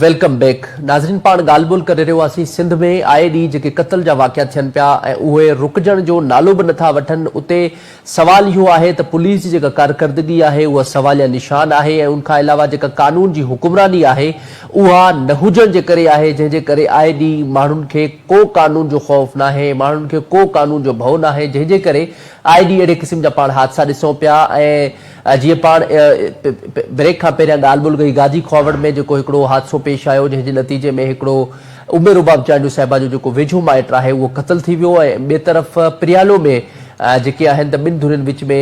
Welcome back ناظرين پاڻ ڳالهه ٻولهه ڪري رهيو هئاسين سنڌ ۾ آئي ڏينهن جيڪي قتل جا واقعا ٿين پيا ۽ اهي رڪجڻ جو نالو به نٿا وٺن اتي سوال اهو آهي ته پوليس جي جيڪا ڪارڪردگي آهي اها سواليا نشان آهي ۽ ان کان علاوه جيڪا قانون جي حڪمراني آهي اها نه هجڻ جي ڪري آهي جنهن جي ڪري آئي ڏينهن ماڻهن کي ڪو قانون جو خوف ناهي ماڻهن کي ڪو قانون جو ڀئو ناهي جنهن جي ڪري آئي ڏينهن اهڙي قسم جا پاڻ حادثا ڏسون پيا ۽ جيئن پاڻ بريڪ کان پهريان ڳالهه ٻولهه ڪئي گاجي کهاوڙ ۾ جيڪو هڪڙو حادثو پيش آيو جنهن جي نتيجي ۾ هڪڙو عمر رباب چانڊيو صاحبه جو جيڪو ويجهو مائٽ آهي اهو قتل ٿي ويو ۽ ٻئي طرف پريالو ۾ جيڪي آهن ته ٻن ڌرين وچ ۾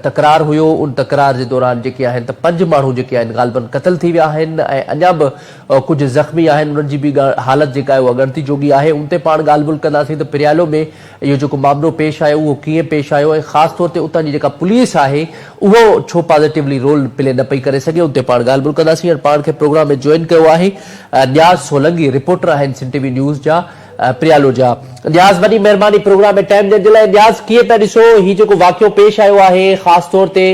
تڪرار هيو ان تڪرار جي دوران جيڪي آهن ته پنج ماڻهو جيڪي آهن غالبن قتل ٿي ويا آهن ۽ اڃا به ڪجهه زخمي آهن انهن جي به حالت جيڪا آهي اهو اڳڻتي جوڳي آهي ان تي پاڻ ڳالهه ٻولهه ڪنداسين ته پريالو ۾ اهو جيڪو معاملو پيش آيو اهو ڪيئن پيش آيو ۽ خاص طور تي اتان جي جيڪا پوليس آهي اهو ڇو پازيٽولي رول پلي نه پئي ڪري سگهي ان تي پاڻ ڳالهه ٻولهه ڪنداسين هاڻي پاڻ کي پروگرام ۾ جوائن ڪيو آهي نياز سولنگي رپورٽر آهن سنڌ ٽي وي نيوز جا پريالو جا نياز وڏي مهرباني پروگرام ۾ ٽائيم ڏيڻ جي لاء نياز ڪيئن پيا ڏسو هي جيڪو واقعو پيش آيو آهي خاص طور تي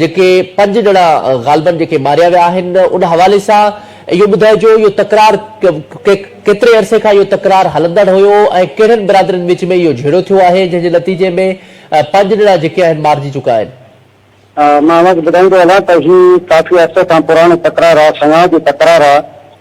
جيڪي پنج ڄڻا غالبن جيڪي ماريا ويا آهن ان حوالي سان اهو ٻڌائجو اهو تڪرار ڪيتري عرصي کان اهو تڪرار هلندڙ هيو ۽ ڪهڙن برادرين وچ ۾ اهو جهيڙو ٿيو آهي جنهن جي نتيجي ۾ پنج ڄڻا جيڪي آهن مارجي چڪا آهن. مان اوهان کي ٻڌائيندو هلان ته هي ڪافي عرصي کان پراڻو تڪرار آهي سڱاهه جو تڪرار آهي.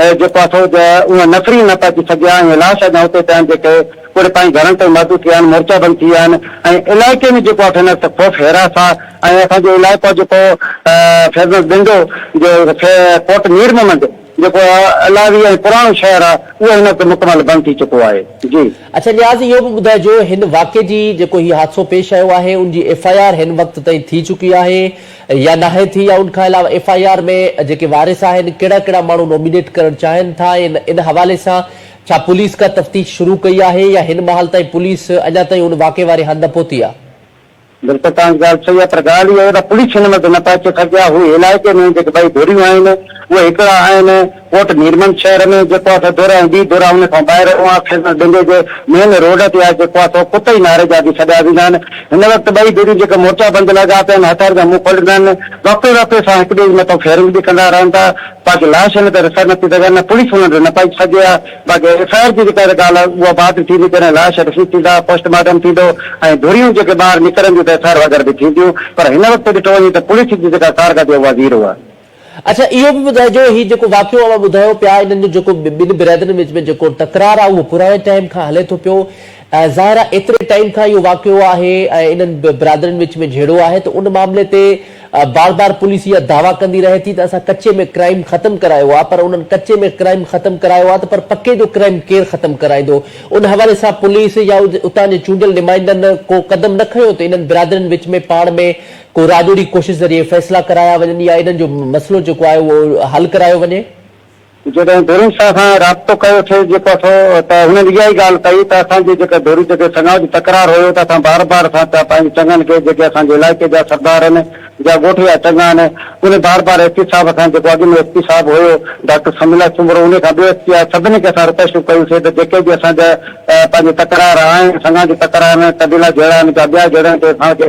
اهي جيڪو اٿو جا اونهه نفري نه پهچي سگهيا ۽ لاش اڃا اتي پيا آهن جيڪي پوري پنهنجي گهرن تائين محدود ٿي ويا آهن مورچا بند ٿي ويا آهن ۽ علائقي ۾ جيڪو اٿو نفس خوف حراس آهي ۽ اسان جو علائقو جيڪو فيضمحمد بنڊو جو پورٽ مير محمد جيڪو علائوي ۽ پراڻو شهر آهي اهو هن وقت مڪمل بند ٿي چڪو آهي جي. اچا نياز اهو به ٻڌائجو هن واقعي جي جيڪو هي حادثو پيش آيو آهي ان جي ايف آء آر هن وقت تائين ٿي چڪي آهي. يا ناهي ٿي يا ان کان علاوه ايف آء آر ۾ جيڪي وارث آهن ڪهڙا ڪهڙا ماڻهو نومينيٽ ڪرڻ چاهين ٿا ۽ ان حوالي سان ڇا پوليس ڪا تفتيش شروع ڪئي آهي يا هن مهال تائين پوليس اڃا تائين ان واقعي واري هنڌ نه پهتي آهي. بلڪل توهان جي ڳالهه صحيح آهي پر ڳالهه اها آهي ته پوليس هن مهل ته نه پهچي سگهي آهي هو علائقي ۾ جيڪي ٻئي ڌريون آهن اهي هڪڙا آهن. ڪوٽ ميرمنڊ شهر ۾ جيڪو آ سو دورا ۽ ٻي دورا ان کان ٻاهر اها خيزن ڏنڊي جي مين روڊ تي آ جيڪو آ سو ڪتئي ناري جا به سڏيا ويندا آهن هن وقت ٻئي ڌريون جيڪي مورچا بند لڳا پيا آهن هٿيار جا منهن کوليندا آهن وقفي وقفي سان هڪ ٻئي جي مٿان فيرنگ به ڪندا رهن ٿا باقي لاش هن تي رسائي نٿي سگهن نه پوليس انهن تي نه پهچي سگهي آ باقي ايف آء آر جي جيڪا ڳالهه آ اها بعد ۾ ٿيندي جڏهن لاش رسيد ٿيندا پوسٽ مارٽم ٿيندو ۽ ڌريون جيڪي ٻاهر نڪرنديون ته ايف آء آر وغيره به ٿينديون پر هن وقت ڏٺو وڃي ته پوليس جي جيڪا ڪارڪردي آ اها زيرو آ. اڇا اهو به ٻڌائجو هي جيڪو واقعو اوهان ٻڌايو پيا انهن جو جيڪو ٻن برادرين وچ ۾ جيڪو تڪرار آهي اهو پراڻي ٽائيم کان هلي ٿو پيو ۽ ظاهر آهي ايتري ٽائيم کان اهو واقعو آهي ۽ انهن برادرين وچ ۾ جهيڙو آهي ته ان معاملي تي بار بار پوليس اها دعويٰ ڪندي رهي ٿي ته اسان ڪچي ۾ ڪرائيم ختم ڪرايو آهي پر انهن ڪچي ۾ ڪرائيم ختم ڪرايو آهي ته پر پڪي جو ڪرائيم ڪير ختم ڪرائيندو ان حوالي سان پوليس يا اتان جي چونڊيل نمائندن ڪو قدم نه کنيو ته انهن برادرين وچ ۾ پاڻ ۾ ڪو راڄوڙي ڪوشش ذريعي فيصلا ڪرايا وڃن يا انهن جو مسئلو جيڪو آهي اهو حل ڪرايو وڃي. جڏهن ڌرين سان اسان رابطو ڪيو ٿي جيڪو اٿو ته هنن اها ئي ڳالهه ڪئي ته اسان جي جيڪي ڌرين جيڪي سڱاء جو تڪرار هيو ته اسان بار بار اسان چا پنهنجي چڱن کي جيڪي اسان جي علائقي جا سردار آهن جا ڳوٺ جا چڱا آهن انهن بار بار ايس پي صاحب کان جيڪو اڳ ۾ ايس پي صاحب هيو ڊاڪٽر سمي الله سومرو انهن کان ٻيو ايس پي آهي سڀني کي اسان رڪويسٽون ڪيون سي ته جيڪي به اسان جا پنهنجي تڪرار آهن سڱا جي تڪرار آهن قبيلا جهيڙا آهن جا ٻيا جهيڙا آهن تي اسان کي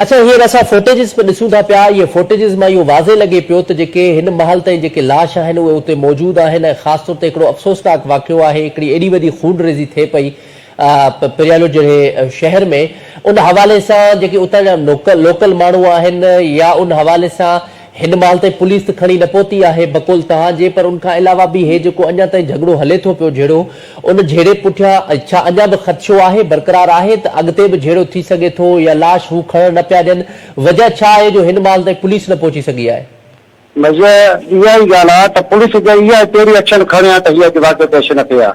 اڇا هينئر اسان فوٽيجز پڻ ڏسون ٿا پيا، اهي فوٽيجز مان اهو واضح لڳي پيو ته جيڪي هن مهل تائين جيڪي لاش آهن اهي اتي موجود آهن ۽ خاص طور تي هڪڙو افسوسناڪ واقعو آهي هڪڙي ايڏي وڏي خونريزي ٿئي پئي پريالو جهڙي شهر ۾ ان حوالي سان جيڪي اتان جا لوڪل ماڻهو آهن يا ان حوالي سان هن مهل تائين پوليس ته کڻي نه پهتي آهي بقول توهان جي پر ان کان علاوه به هي جيڪو اڃا تائين جهڳڙو هلي ٿو پيو جهيڙو ان جهيڙي پٺيان ڇا اڃا به خدشو آهي برقرار آهي ته اڳتي به جهيڙو ٿي سگهي ٿو يا لاش هو کڻڻ نه پيا ڏين وجهه ڇا آهي جو هن مهل تائين پوليس نه پهچي سگهي آهي. وجهه اها ئي ڳالهه آهي ته پوليس جي اها ڪهڙي ايڪشن کڻي ها ته هي اڄ واقعو پيش نه ٿئي ها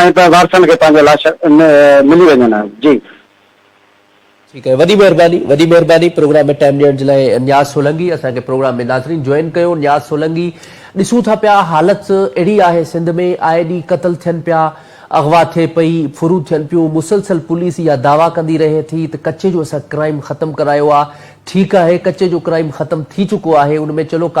۽ پوء وارثن کي پنهنجي لاش ملي وڃن ها جي. ٺيڪ آهي وڏي مهرباني وڏي مهرباني پروگرام ۾ ٽائيم ڏيڻ جي لاء نياز سولنگي اسان کي پروگرام ۾ ناظرين جوائن ڪيو نياز سولنگي ڏسون ٿا پيا حالت اهڙي آهي سنڌ ۾ آء ڏينهن قتل ٿين پيا اغوا ٿئي پئي ڦرون ٿين پيون مسلسل پوليس اها دعويٰ ڪندي رهي ٿي ته ڪچي جو اسان ڪرائيم ختم ڪرايو آهي ٺيڪ آهي ڪچي جو ڪرائيم ختم ٿي چڪو آهي ان ۾ چلو ڪافي